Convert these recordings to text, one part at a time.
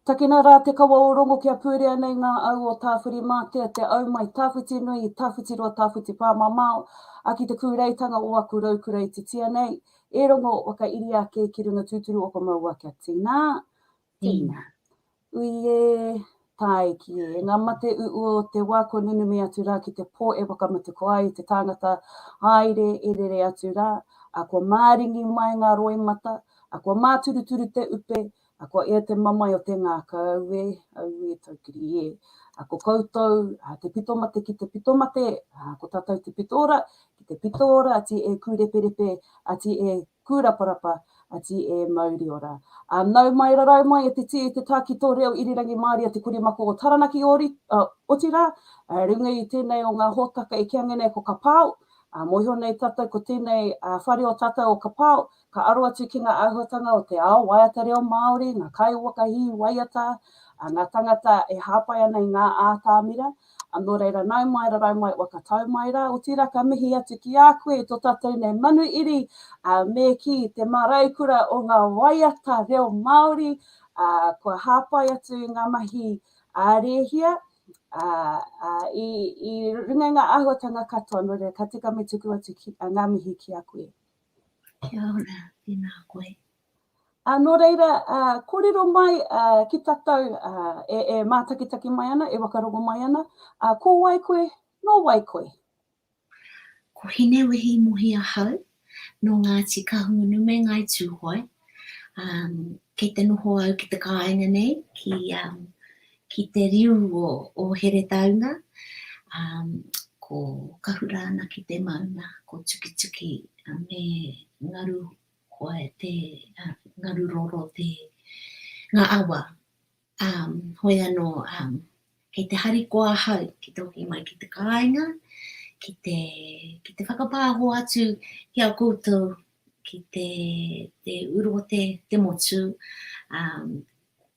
Takina rā te kawa o Rongo kia pūrea nei ngā au o Tāwhirimātea, Te Aumai, Tāwhitinui, Tāwhitiroa, Tāwhitipāmamao, a ki te kūreitanga o aku raukura i titia nei, E Rongo, whakairia ake ki runga tūturu o ko maua kia tīnā, tīnā. Ui e, tae ki e. Ngā mate uua o te wā kua nunumi atu rā ki te pō e whakamutuko ai te tāngata haere e rere atu rā, a kua māringi mai ngā roimata, a kua māturuturu te upe, a kua ea te mamae o te ngākau, aue, aue, taukiri e. A ko koutou, a te pito mate ki te pito mate, a ko tātou te pito ora ki te pito ora, ti e kūreperepe, a ti e kūraparapa a TE Mauriora. A, nau mai rarau mai e te tī i te tā ki tō reo irirangi Māori a te Kuri Mako o Taranaki ori, a, otirā, a, runga i tēnei o ngā hōtaka e kiange nei ko Kapao, a, mōhio nei tātou ko tēnei a, whare o tātou o Kapao, ka aro atu ki ngā āhuatanga o te ao, waiata reo Māori, ngā kaiwaka hī waiata, a, ngā tāngata e hāpai ana i ngā ātāmira, Nō reira, nau mai, rarau mai, whakatau mai rā, otirā ka mihi atu ki a koe, tō tātou nei manu iri, ā, me kī, te māraikura o ngā waiata reo Māori, ā, kua hāpai atu i ngā mahi ā rēhia, ā, ā, i, i runga i ngā āhuatanga katoa, nō reira, ka tika me tuku atu ki, ngā mihi ki a koe. Kia ora, tēnā koe. Ā, nō reira, ā, kōrero mai, ā, ki tātou, ā, e, e mātakitaki mai ana, e whakarongo mai ana, ā, ko wai koe, nō wai koe? Ko Hinewehi Mohi ahau, nō Ngāti Kahungunu me Ngāi Tūhoe. Um, kei te noho au ki te kāinga nei, ki, um, ki te riu o, o Heretaunga. Um, ko Kahurāna ki te maunga, ko Tukituki me Ngaru Kua te ngaruroro te nga awa. Hoi ano kei te hariko ahau ki te hoki mai ki te kainga ki te ki te whakapaho atu ki a koutou ki te te uru o te te motu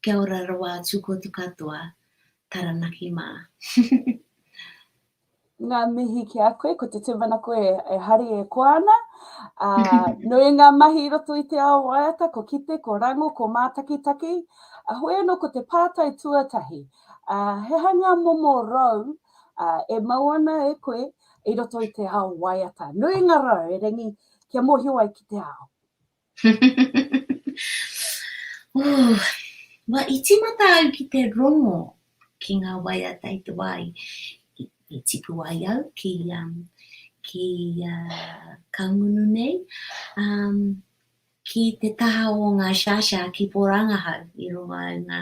kia ora rawa atu koutou katoa Taranaki ma. Ngā mihi ki a koe, ko te tūmanako e, e hari e koa ana. Uh, nui ngā mahi i roto i te ao waiata, ko kite, ko rango, ko mātakitaki. A hoi anō ko te pātai tuatahi. Uh, he hai ngā momo rau uh, e mau ana e koe i roto i te ao waiata. Nui ngā rau e rengi kia mōhio ai ki te ao. Ooh Wa i timata au ki te rongo ki nga waiata i te wa i i tipu ai au ki ki Kaungunu nei umm ki te taha o nga shasha ki Porangahau i rongo ai nga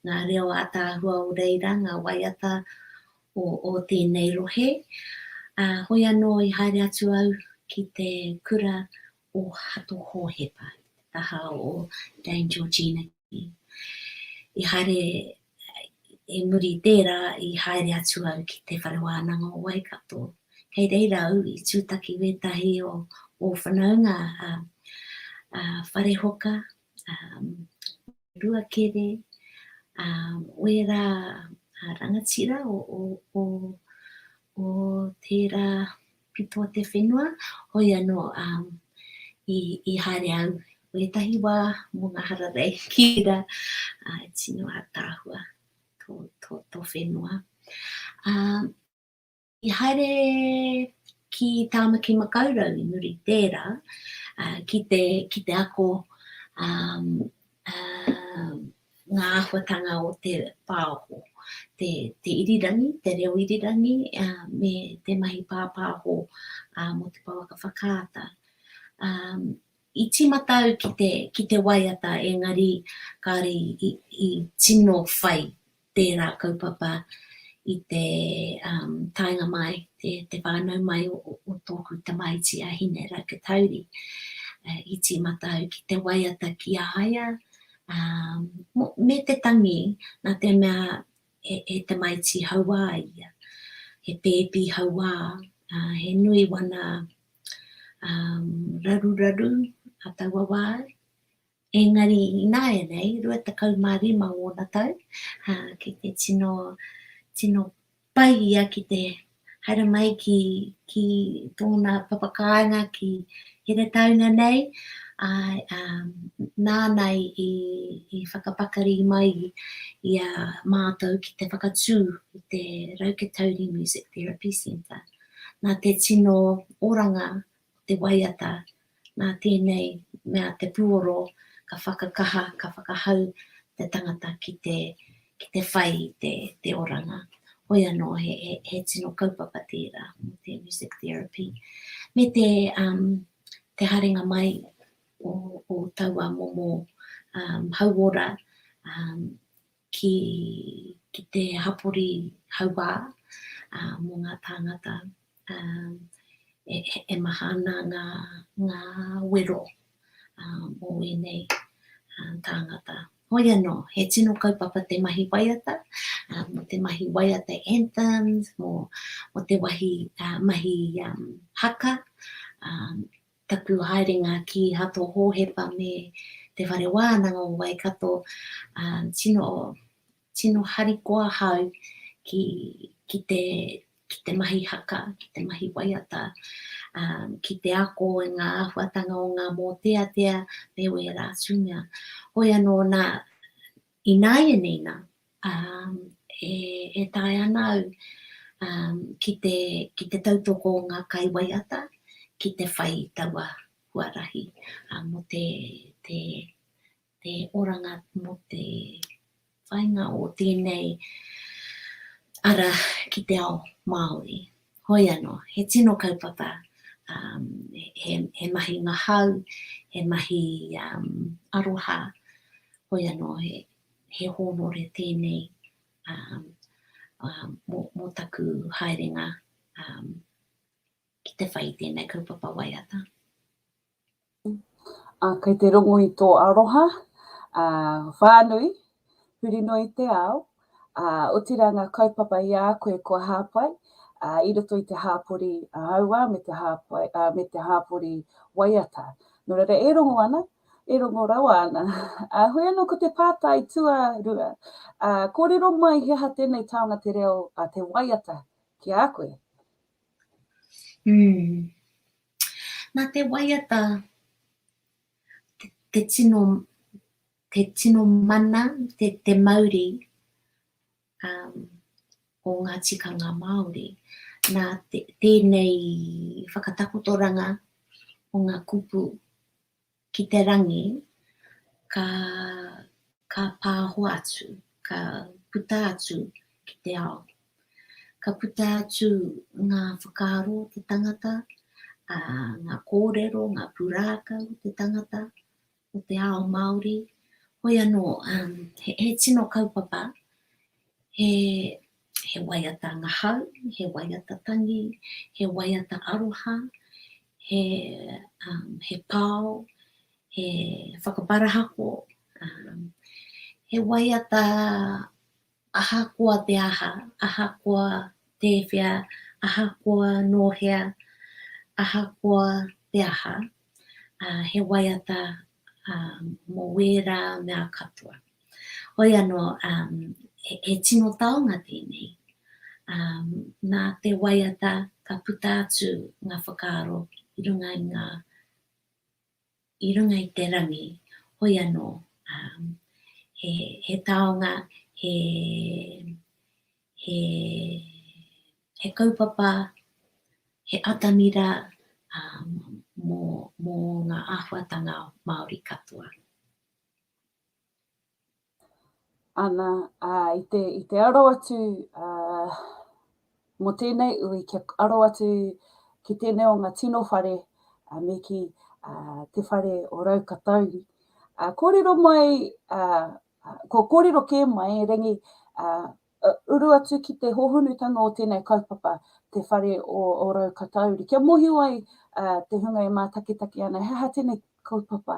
nga reo ataahua o reira nga waiata o o tenei rohe a hoi ano i haere atu au ki te kura o Hato Hohepa i te taha o Dame Georgina King. I haere, i muri i tērā, i haere atu au ki Te Whare Wānanga o Waikato. Kei reira au i tūtaki wētahi o ō whanaunga a Wharehoka, a Ruakere, a wērā rangatira o tērā Pito o te whenua, hoi anō ā, i, i haere au o ētahi wā mō ngā hararei ki reira, ā, e tino ātaahua tō, tō, tō whenua. Ā, i haere ki Tāmaki Makaurau i muri i tērā, ā, ki te, ki te ako, ā, ngā āhuatanga o te pāoho, te irirangi, te reo irirangi me te mahi pāpāho mō te pouaka whakaata. I tīmata au ki te waiata engari kāore i tino whai tērā kaupapa i te taenga mai, te whānau mai o tōku tamaiti a Hine Raukatauri. I tīmata au ki te waiata ki a ia, me te tangi nā te mea he tamaiti hauā ia, he pēpi hauā, he nui wana raruraru a taua wā, Engari ināianei, rua tekau mā rima ōna tau, ā, kei te tino, tino pai ia ki te haere mai ki, ki tōna papakāinga ki Heretaunga nei, āe, ā, nāna i, i, i whakapakari mai i a mātou ki te whakatū i te Raukatauri Music Therapy Centre. Nā te tino oranga te waiata, nā tēnei mea te puoro ka whakakaha, ka whakahau te tangata ki te, ki te whai i te, te oranga. Hoi anō, he, he, he tino kaupapa tērā mō te music therapy. Me te, um, te haringa mai o, o taua momo um, hauora, um, ki te hapori hauā mō ngā tāngata e maha ana ngā wero mō ēnei tāngata. Hoi anō, he tino kaupapa te mahi waiata, mō te mahi waiata anthems, mō te mahi haka, Taku haerenga ki Hato Hōhepa me Te Whare Wānanga o Waikato, ā, tino, tino harikoa ahau ki, ki te, ki te mahi haka, ki te mahi waiata, ā, ki te ako i ngā āhuatanga o ngā mōteatea me wērā atu mea. Hoi anō, nā, Ināianei nā, e taea ana au ki te tautoko o ngā kaiwaiata ki te whai i taua huarahi mō te oranga, mō te whāinga o tēnei ara ki te ao Māori. Hoi anō, he tino kaupapa, he mahi ngahau, he mahi aroha, hoi anō, he hōnore tēnei mō taku haerenga ki te whai i tēnei kaupapa waiata. Ā, kei te rongo i tō aroha, ā, whānui, huri noa i te ao, ā, otirā ngā kaupapa i a koe kua hāpai, ā, i roto i te hāpori hauā me te hāpai, ā, me te hāpori waiata. Nō reira, e rongo ana, e rongo rawa ana. Ā, hoi anō ko te pātai tuarua, ā, kōrero mai he aha tēnei taonga te reo, ā, te waiata ki a koe? Nā te waiata te tino te tino mana, te, te mauri um, o ngā tikanga Māori. Nā te, tēnei whakatakotoranga o ngā kupu ki te rangi, ka, ka pāho atu, ka puta atu ki te ao. Ka puta atu ngā whakaaro o te tangata, ā, ngā kōrero, ngā pūrākau o te tangata, o te ao Māori. Hoi anō, he, he tino kaupapa, he, He waiata ngahau, he waiata tangi, he waiata aroha, he he pao, he whakaparahako, he waiata ahakoa te aha, ahakoa tēwhea, ahakoa nō hea, ahakoa te aha. he waiata mō wērā mea katoa. Hoi anō, he tino taonga tēnei. Nā te waiata ka puta atu ngā whakaaro i runga i ngā, i runga i te rangi, hoi anō, he taonga, he, he he kaupapa, he atamira mō mō ngā āhuatanga Māori katoa. Ana, ā, i te, i te aro atu, ā, mō tēnei ui kia aro atu ki tēnei o ngā tino whare, ā, me kī, ā, te whare o Raukatauri. Ā, kōrero mai, ā, Kua kōrero kē mai e Rangi uru atu ki te hōhonutanga o tēnei kaupapa, Te Whare o Raukatauri, kia mōhio ai te hunga e mātakitaki ana he aha tēnei kaupapa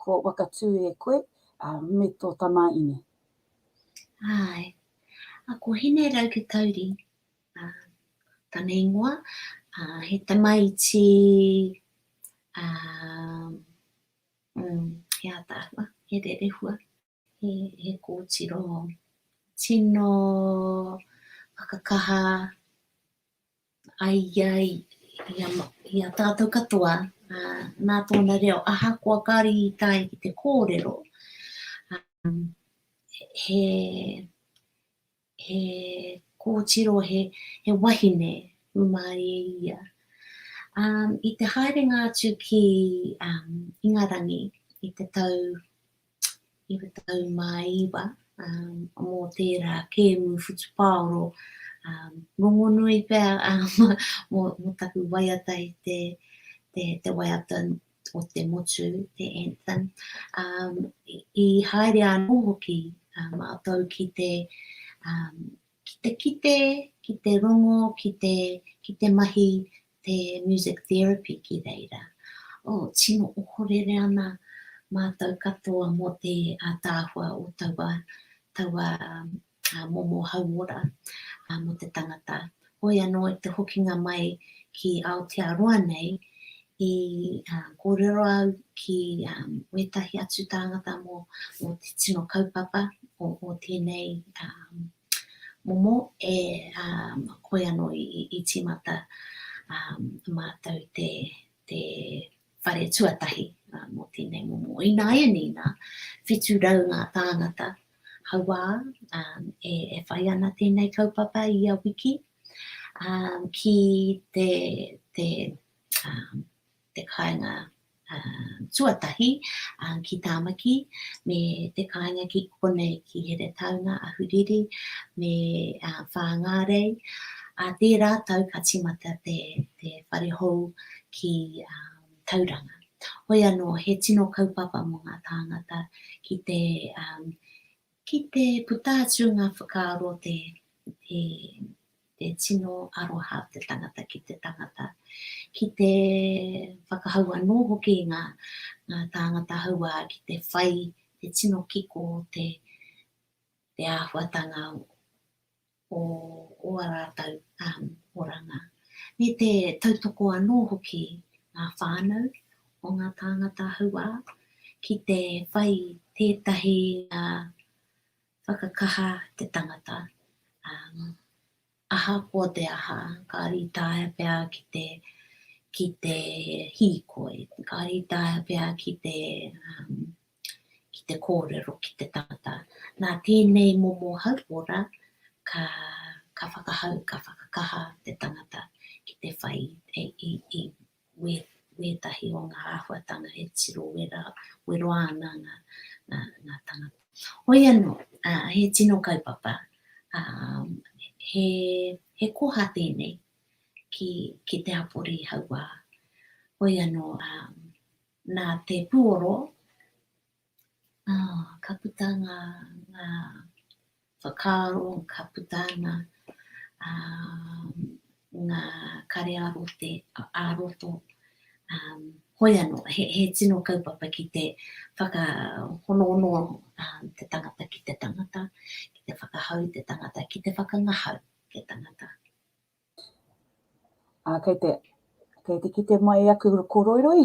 kua wakatū e koe me tō tamāhine. Āe, ko Hine Raukatauri tana ingoa, he tamaiti He ataahua, he rerehua, he kōtiro tino whakakaha ai i a tātou katoa nā tōna reo. Ahakoa kāore i tae ki te kōrero, he He kōtiro, he, he wahine, hūmārie i ia. Ā, i te haerenga atu ki, ā, Ingarangi i te tau iwa tau mā iwa, ā, mō tērā kēmu whutupaoro, ā, rongonui pea, ā, mō, mō taku waiata i te, te, te waiata o te motu, te anthem, um, i haere anō hoki a um, mātou ki te, um, ki te kite, ki te rongo, ki te, ki te mahi te music therapy ki reira. O, oh, tino ohorere ana mātou katoa mō te ātāhua o taua, taua um, ā, momo hauora, ā, mō te tangata. Hoi anō i te hokinga mai ki Aotearoa nei, i, ā, kōrero au ki, ā, wētahi atu tāngata mō, mō te tino kaupapa o, o tēnei, ā, momo e, ā, hoi anō i, i, i tīmata, ā, mātou te, te whare tuatahi mō tēnei momo. Ināianei nā, whitu rau ngā tāngata hauā e whai ana tēnei kaupapa ia wiki ki te kāinga tuatahi ki Tāmaki me te kāinga ki konei ki Heretaunga, Ahuriri me Whāngārei. Tērā tau ka tīmata te whare hou ki Tauranga. Hoi anō, he tino kaupapa mō ngā tāngata ki te, ki te puta atu ngā whakaaro te, te, te tino aroha o te tangata ki te tangata, ki te whakahau anō hoki i ngā, ngā tāngata hauā ki te whai, te tino kiko o te, te āhuatanga o ō rātou oranga, me te tautoko anō hoki ngā whānau o ngā tāngata hauā ki te whai tētahi whakakaha te tangata, ahakoa te aha, kāore i taea pea ki te, ki te hīkoi, kāore i taea pea ki te ki te kōrero ki te tangata. Nā tēnei momo hauora ka ka whakahau, ka whakakaha te tangata ki te whai i wētahi o ngā āhuatanga e tiro wera, wero ana ngā ngā tangata. Hoi anō, he tino kaupapa, he he koha tēnei ki ki te hapori hauā. Hoi anō, Nā te puoro, ka puta ngā whakaaro, ka puta ana ngā kare ā-rote, ā-roto, hoi anō, he tino kaupapa ki te whakahonoono te tangata ki te tangata, ki te whakahau te tangata, ki te whakangahau te tangata. Ā, kei te, kei te kite mai aku ko roiroi.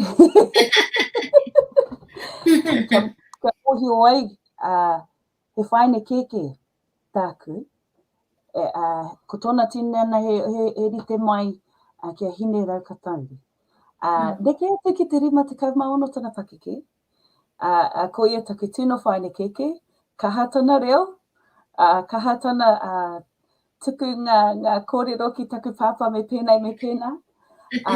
kia, kia ohio ai, ā, he whaine kēkē tāku. E, ā, ko tōna tine ana he, he, he rite mai ā, kia hine rau ka tauri. Ā, mm. neke atu ki te rima te kaumā ono tana pakeke. Ā, ā, ko ia taku tino whaine kēkē, kaha tana reo, ā, kaha tana, ā, tuku ngā, ngā kōrero ki taku pāpā me pēnei me pēnā. Ā,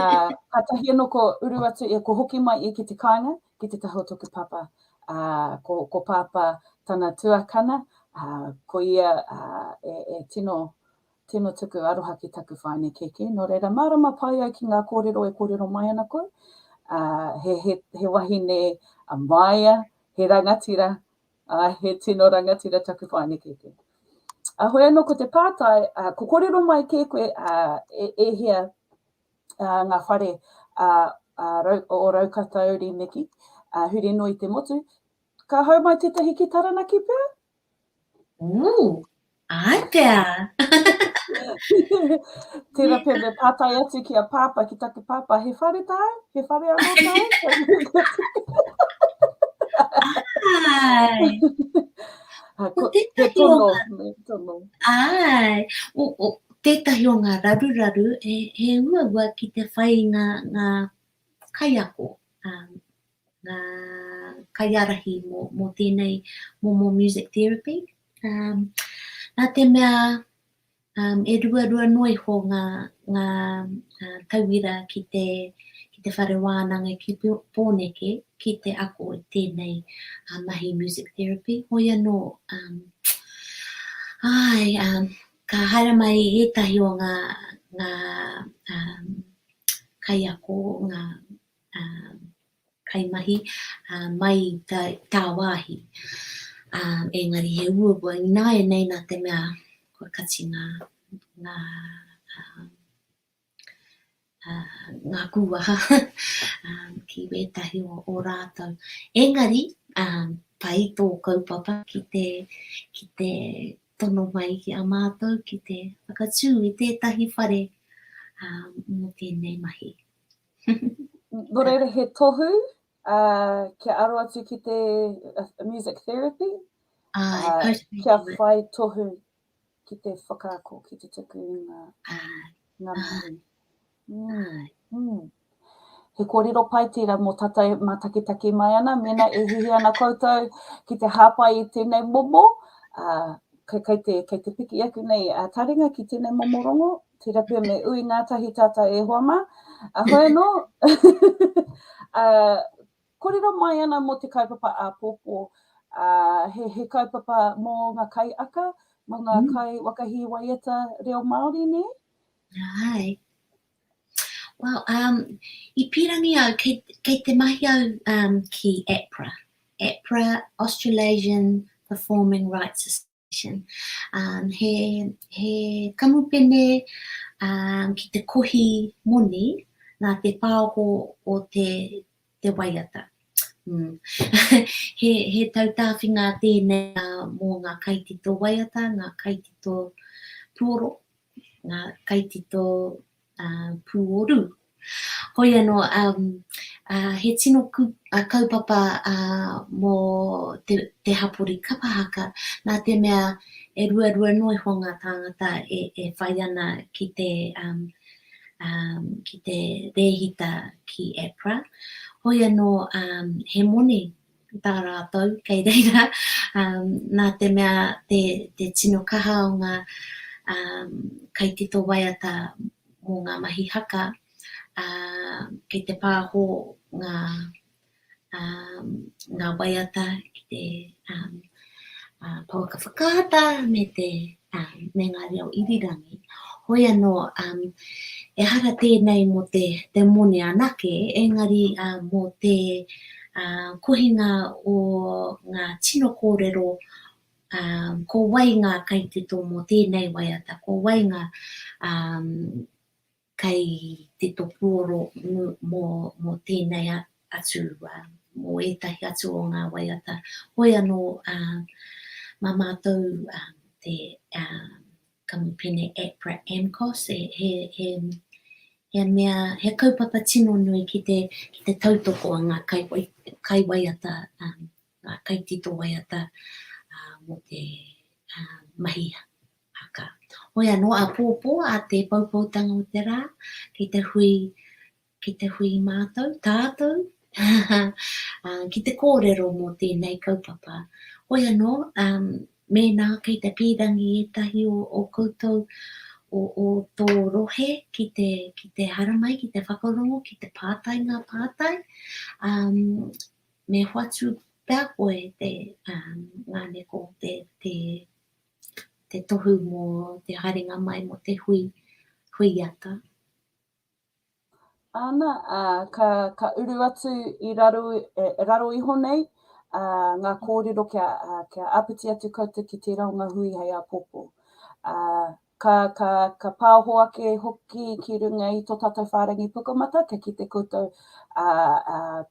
kātahi anō ko uru atu ia, ko hoki mai ia ki te kāinga, ki te taha o tōku pāpā. Ā, ko, ko pāpā tana tuakana, ā, ko ia ā, e, e tino, tino tuku aroha ki taku whaene kēkē. Nō reira, mārama pai au ki ngā kōrero e kōrero mai ana koe. Ā, he, he, he wahine a Maia, he rangatira, Ā, he tino rangatira taku whanike kē. Ahoi anō ko te pātai, ā, ko kōrero mai kē koe, ā, e, e hea, ā, ngā whare, ā, ā, rau, o Raukatau Rineki, ā, huri anō i te motu, ka hau mai tētahi ki Taranaki pea? Ū! Ae pea! Tera pe me patai atu ki a papa, ki taku papa, he whare tau? He whare ano tau? Ae! Ko tetahi o nga... Ae! Tetahi o nga raruraru he uaua ki te whai i nga kaiako. ngā kaiārahi mō, mō tēnei momo music therapy. Um, nā te mea um, e ruarua noa iho ngā, ngā uh, tauira ki te, ki te whare wānanga ki Pōneke ki te ako i tēnei uh, mahi music therapy. Hoi anō, um, ai, um, ka haere mai ētahi o ngā, ngā um, kaiako, ngā kaimahi mai i tāwāhi, engari he uaua ināianei nā te mea kua kati ngā ngā kūwaha ki wētahi o rātou. Engari, pai tō kaupapa ki te ki te tono mai ki a mātou ki te whakatū i tētahi whare mō tēnei mahi. Nō reira he tohu uh, kia aro atu ki te uh, music therapy, uh, uh, kia whai tohu ki te whakaako, ki te tuku i ngā, uh, ngā uh, mm, mm. He kōrero pai tērā mō tātou mā takitaki mai ana, mena e hihi ana koutou ki te hāpai i tēnei momo, uh, kei, kei, te, kei te piki aku nei a uh, taringa ki tēnei momo rongo, Tirapia me ui ngātahi tātou e hoa mā. A hoi anō, a, korero mai ana mō te kaupapa āpōpō, a, he, he kaupapa mō ngā kai aka, mō ngā mm. kai wakahi waiata reo Māori, nē? Ai. Well, um, i pīrangi au, kei, kei te mahi au um, ki APRA, APRA, Australasian Performing Rights Society. Foundation. Um, he, he kamupene um, ki te kohi moni nā te pāoho o te, te waiata. Mm. he, he tautāwhinga tēnei uh, mō ngā kaitito waiata, ngā kaitito puoro, ngā kaitito pūoru. Hoi anō, he tino kaupapa mō te hapori kapa haka, nā te mea e ruarua noa iho ngā tāngata e whai ana ki te rēhita ki APRA. Hoi anō, he moni ki tā rātou, kei reira, nā te mea te tino kaha o ngā kaitito waiata mō ngā mahi haka, kei te pāho ngā waiata ki te. pouaka whakaata me te me ngā reo irirangi. Hoi anō, ehara tēnei mō te, te moni anake, engari mō te kohinga o ngā tino kōrero, ko wai ngā kaitito mō tēnei waiata, ko wai ngā Kei te topuoro mō tēnei atu, mō ētahi atu o ngā waiata, hoi anō mā mātou te Kamupene APRA AMCOS, he kaupapa tino nui ki te tautoko a ngā kaiwaiata, ngā kaitito waiata mō te mahi Haka. Hoi anō apōpō a te Poupoutanga o te Rā ki te hui, ki te hui i mātou, tātou, ki te kōrero mō tēnei kaupapa. Hoi anō, mēnā kei te pīrangi ētahi o koutou o o tō rohe ki te, ki te haramai, ki te whakarongo, ki te pātai ngā pātai, me hoatu pea koe te, ngā neko, te, te. te tohu mō te haerenga mai mō te hui, hui ata. Ana, ā, ka, ka uru atu i raro, e, e raro iho nei ā, ngā kōrero kia, ā, kia āpiti atu koutou ki tērā o ngā hui hei āpōpō. Ā, ka, ka, ka pāho ake hoki ki runga i tō tātou whārangi pukamata kia kite koutou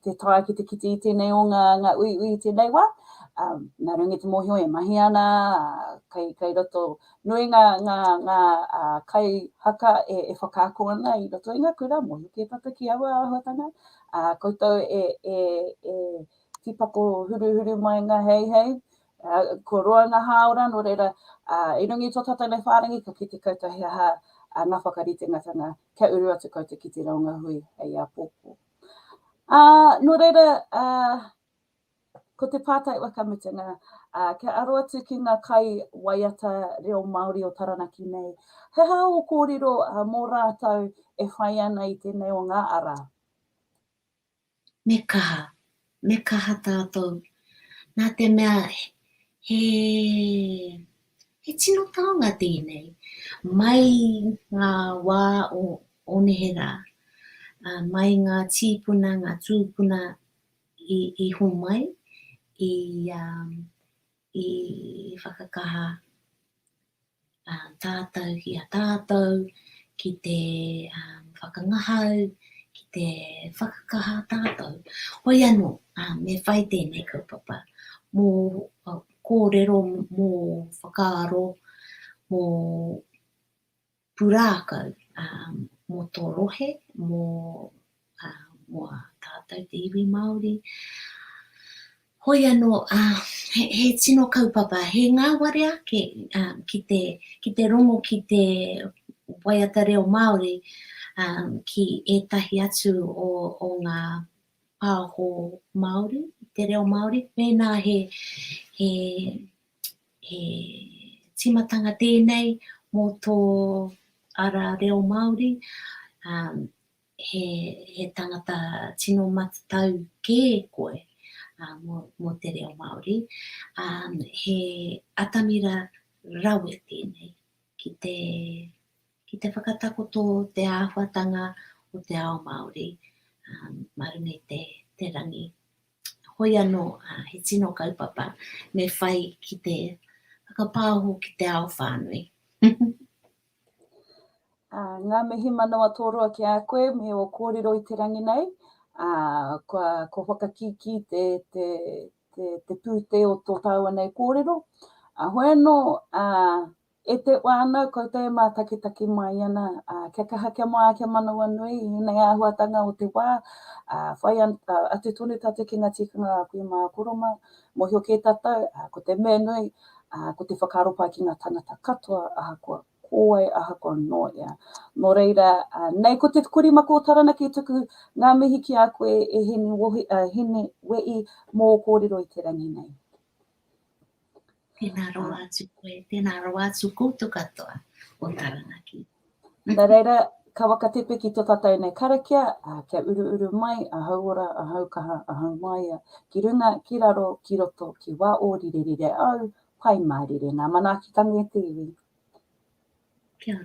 te tae ki te kite i tēnei o ngā uiui i tēnei wā, nā runga i te mōhio e mahi ana, kei roto, nui ngā kai haka e whakaako ana i roto i ngā kura, mōhio kē tātou ki aua āhuatanga, koutou e tīpako huruhuru mai ngā heihei, Ko roa nga hāora, nō reira, i runga i tō tātou nei whārangi, ka kite koutou he aha nga whakaritengatanga kia uru atu koutou ki tērā o nga hui hei āpōpō. Ā, nō reira, ko te pātai whakamutunga, kia aro atu ki nga kai waiata reo Māori o Taranaki nei, he aha ō kōrero mō rātou e whai ana i tēnei o nga ara? Me kaha, me kaha tātou, nā te mea he, he tino taonga tēnei. Mai ngā wā o, o neherā, ā, mai ngā tīpuna, ngā tūpuna i, i homai, i, ā, I whakakaha tātou ki a tātou ki te whakangahau, ki te whakakaha tātou. Hoi anō, me whai tēnei kaupapa mō kōrero, mō whakaaro, mō Pūrākau, ā, mō tō rohe, mō, ā, mō ā tātou te iwi Māori. Hoi anō, ā, he, he tino kaupapa, he ngāwari ake, ā, ki te, ki te rongo ki te waiata reo Māori, ā, ki ētahi atu o, o ngā pāho Māori i te reo Māori, pēnā he, he He tīmatanga tēnei mō tō ara reo Māori, he tangata tino matatau kē koe mō te reo Māori, he atamira rawe tēnei ki te whakatakoto te āhuatanga o te ao Māori mā runga i te rangi Hoi anō, he tino kaupapa me whai ki te whakapāoho ki te ao whānui. Ngā mihi manawa tōroa ki a koe me ō kōrero i te rangi nei. Kua whakakīkī te pūtea o tō tāua nei kōrero. Hoi anō, E te whānau, koutou e mātakitaki mai ana, kia kaha, kia moa, kia manawa nui i ēnei āhuatanga o te wā, whai atu tonu tātou ki ngā tikanga a Kui mā Koroma, mōhio kē tātou, ko te mea nui, ko te whakaaro pai ki ngā tāngata katoa, ahakoa ko wai, ahakoa nō ea. Nō reira, nei ko te kori mako o Taranaki tuku ngā mihi ki a koe e Hine Wehi mō kōrero i te rangi nei. Tēnā rawa atu koe, tēnā rawa atu koutou katoa o Taranaki. Nā reira, ka wakatepe ki tō tātou nei karakia, ā, kia uruuru mai a Hauora, a Haukaha, a Haumāia, ki runga, ki raro, ki roto, ki wā ō rirerire au, Pai Mārire. Ngā manaaki tangi e te iwi. Kia ora.